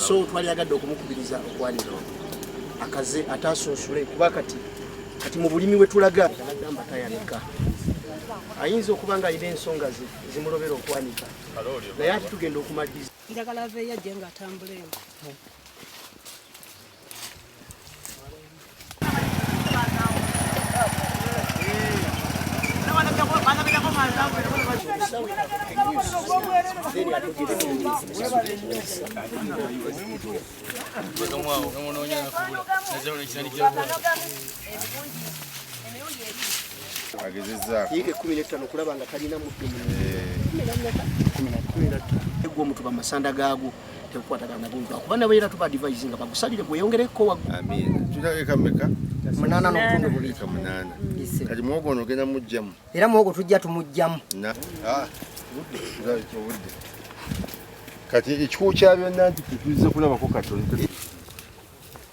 so twali agadde okumukubiriza okwanira akaze atasunsule kuba kati kati mu bulimi wetulaga agamba tayanika ayinza okuba nga alina ensonga zimulobera okwanika naye ati tugenda okumaliza njagala aveeyo ajje nga atambula eno yiika ekkumi n'ettaano okulaba nga talina muddu egwo omutuba amasanda gaagwo tekukwatagana nabo lwakuba nabo era tuba advise nga bagusalire gweyongereko wa amina tutaleka meka munana n'obutundu bubiri munana kati muwogo ono ogenda mujjamu era muwogo tujja tumujjamu ah, kati ekikuwo kya byonna nti tetuzze kulabako katonda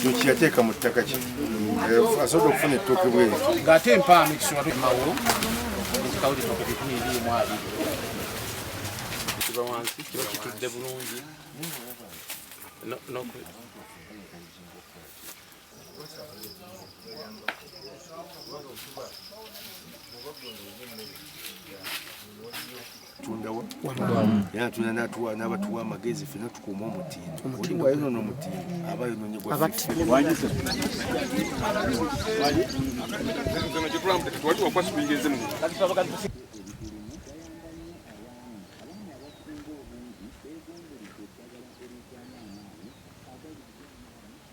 kyekiyateeka mu ttaka kye eh, asobola okufuna ettooke bwe ng'ate empaano ekisowatumawo ekikawulira ku bikumi ebiri mu abiri kiba wansi kiba kitudde bulungi tundawo era tuna natuwa n'abatuwa amagezi fena tukuuma omutindo oli wayonona omutindo aba yononye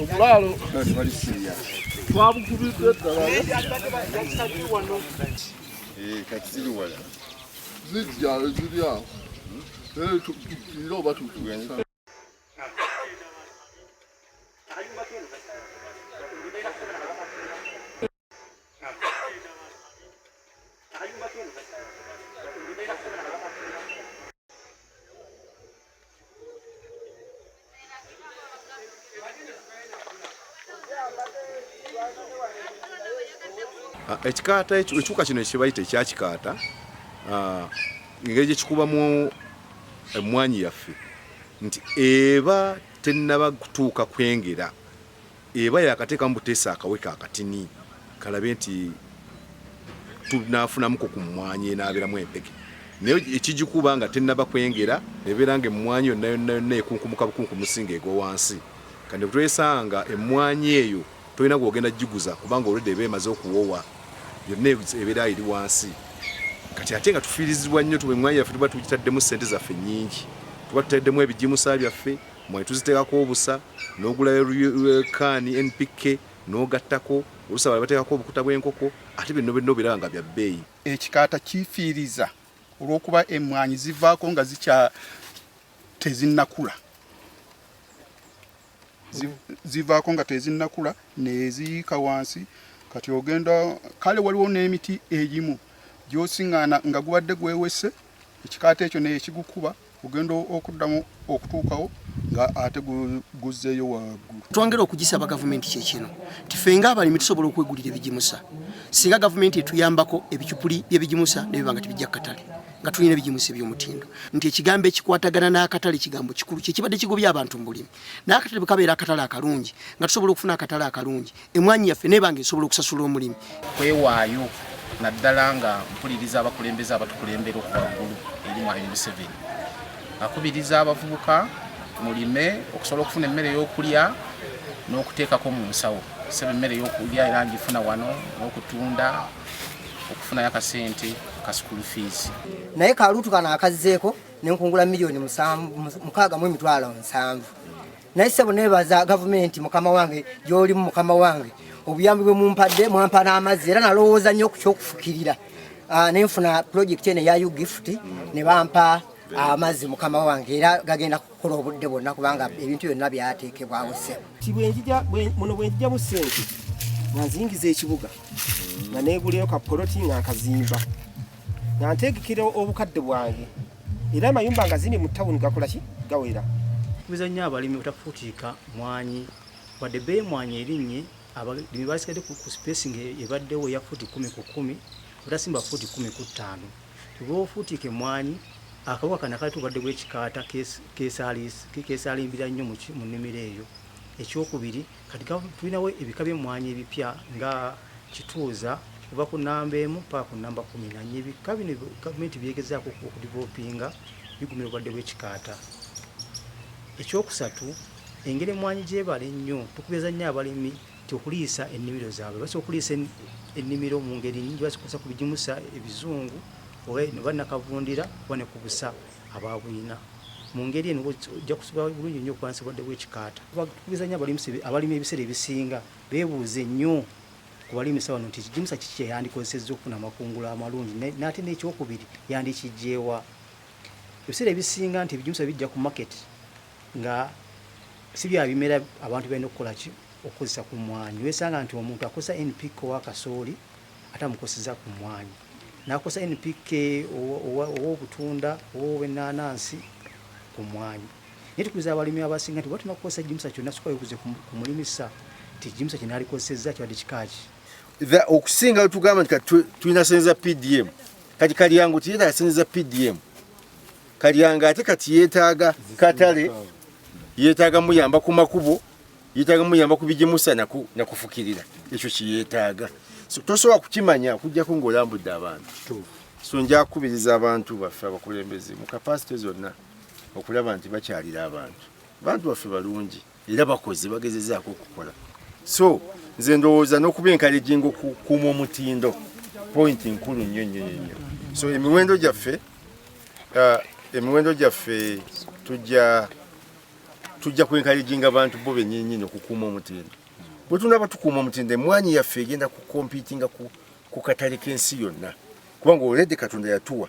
obulaalo twabukubidde ddala zijja eziri awo era tukira oba tutusa Ah, ekikaata ekiwuka kino ekibayita ekyakikaata ah, engeri gyekikubamu emmwanyi yaffe nti eba tennaba kutuuka kwengera Eba yakatekamu butesa akawe ka katini kalabe nti tunafunamuko ku mmwanyi enaaberamu empeke naye ekigikuba nga tennaba kwengera ebeera nga emmwanyi yonna yonna yonna ekunkumuka bukunkumusi nga egwa wansi kandi butwesanga emmwanyi eyo tolina gwogenda giguza kubanga olwedde eba emaze okuwowa yonna ebeera eri wansi kati ate nga tufiirizibwa nnyo tuba emmwanyi yaffe tuba tugitaddemu ssente zaffe nnyingi tuba tutaddemu ebigimusa byaffe Mwanyi tuziteekako obusa n'ogulayo can NPK n'ogattako oluusi abalala bateekako obukuta bw'enkoko ate bino byonna obiraba nga bya bbeeyi. Ekikaata kifiiriza olw'okuba emmwanyi zivaako nga zikya tezinnakula zivaako nga tezinnakula neziyiika wansi kati ogenda kale waliwo n'emiti egimu gyosiŋŋaana nga gubadde gwewese ekikaata ekyo nekigukuba kugenda okuddamu okutuukawo nga ate guzzeeyo waggulu. Twongera okugisaba gavumenti kye kino nti ffe ng'abalimi tusobola okwegulira ebigimusa singa gavumenti etuyambako ebicupuli by'ebigimusa ne biba nga tebijja ku katale nga tulina ebigimusa eby'omutindo nti ekigambo ekikwatagana n'akatale kigambo kikulu kye kibadde kigobya abantu mu bulimi n'akatale bwe kabeera akatale akalungi nga tusobola okufuna akatale akalungi emwanyi yaffe neba nga esobola okusasula omulimi kwewaayo naddala nga mpuliriza abakulembeze abatukulembera okuva ggulu eri mwalimi museveni akubiriza abavubuka mulime okusobola okufuna emmere y'okulya n'okuteekako mu nsawo sebe emmere y'okulya era ngifuna wano n'okutunda okufunayo akasente ka school fees naye kaluutu kano akazzeeko nenkungula miliyoni mukaaga mu emitwalo nsanvu naye sebo nebaza gavumenti mukama wange gyolimu mukama wange obuyambi bwe mumpadde mwampa n'amazzi era nalowooza nnyo ku kyokufukirira ah, nenfuna pulojekiti eno eya ugift ne bampa amazzi mukama wange era gagenda kukola obudde bwonna kubanga ebintu byonna byateekebwawo sebo muno bwenjija bu sente nganzingiza ekibuga nga neguleyo kapoloti nga nkazimba nga nteekekera obukadde bwange era amayumba nga zini mu tawuni gakola ki gawera tubiza nnyo abalimi otafuutiika mwanyi wadde bee mwanyi erinnye abalimi basigadde ku spacing ebaddewo eya fuuti kumi ku kumi otasimba fuuti kumi ku ttaano tuba ofuutiika emwanyi akawuka kana kali tubadde bwekikaata keesalimbira nnyo mu nnimiro eyo ekyokubiri Kati gavumenti tulinawo ebika by'emmwanyi ebipya nga kituuza kuva ku namba emu paka ku namba kumi nanye ebika bino gavumenti byegezaako okudivelopinga bigumira obulwadde bw'ekikaata ekyokusatu engeri emmwanyi gyebala ennyo tukubiriza nnyo abalimi ti okuliisa ennimiro zaabwe basa okuliisa ennimiro mu ngeri nyingi basokozesa ku bigimusa ebizungu oba nakavundira oba ne ku busa aba bwina mu ngeri eno ojja kusobola bulungi nnyo okulwanyisa obulwadde bw'ekikaata. Batukubiriza nnyo abalimisa abalimi ebiseera ebisinga beebuuze nnyo ku balimisa bano nti ekigimusa kiki kye yandikozesezza okufuna amakungula amalungi n'ate n'ekyokubiri yandikiggyeewa. Ebiseera ebisinga nti ebigimusa bijja ku maketi nga si bya bimera abantu balina okukola ki okukozesa ku mmwanyi. Weesanga nti omuntu akozesa NPK owa kasooli ate amukoseza ku mmwanyi n'akosa npk ow'obutunda ow'obwennaanansi ku mmwanyi naye tukuliza abalimi abasinga nti batuma kukozesa jimusa kyonna soka yokuze ku mulimisa nti jimusa kye naalikozesezza kibadde kikaaki okusinga wetugamba nti kati tulina sente za pdm kati kalyango tiyetaaga sente za pdm kalyango ate kati yeetaaga katale yeetaaga muyamba ku makubo yetaaga muyamba kubigimusa nakufukirira ekyo kiyetaaga tosobola kukimanya okujjako ngaolambudde abantu so njakubiriza abantu baffe abakulembeze mu kapasite zonna okulaba nti bakyalira abantu bantu baffe balungi era bakoze bagezezaako okukola so nze ndowooza n'okuba enkalejinga okukuuma omutindo pointi nkulu nnyo nnyo nnyo so emiwendo gyaffe uh, emiwendo gyaffe tujja tujja kwenkayejinga abantu bo benyinyini okukuuma omutindo bwe tunaba tukuuma omutindo emwanyi yaffe egenda kukompitinga ku katale k'ensi yonna kubanga oledi katonda yatuwa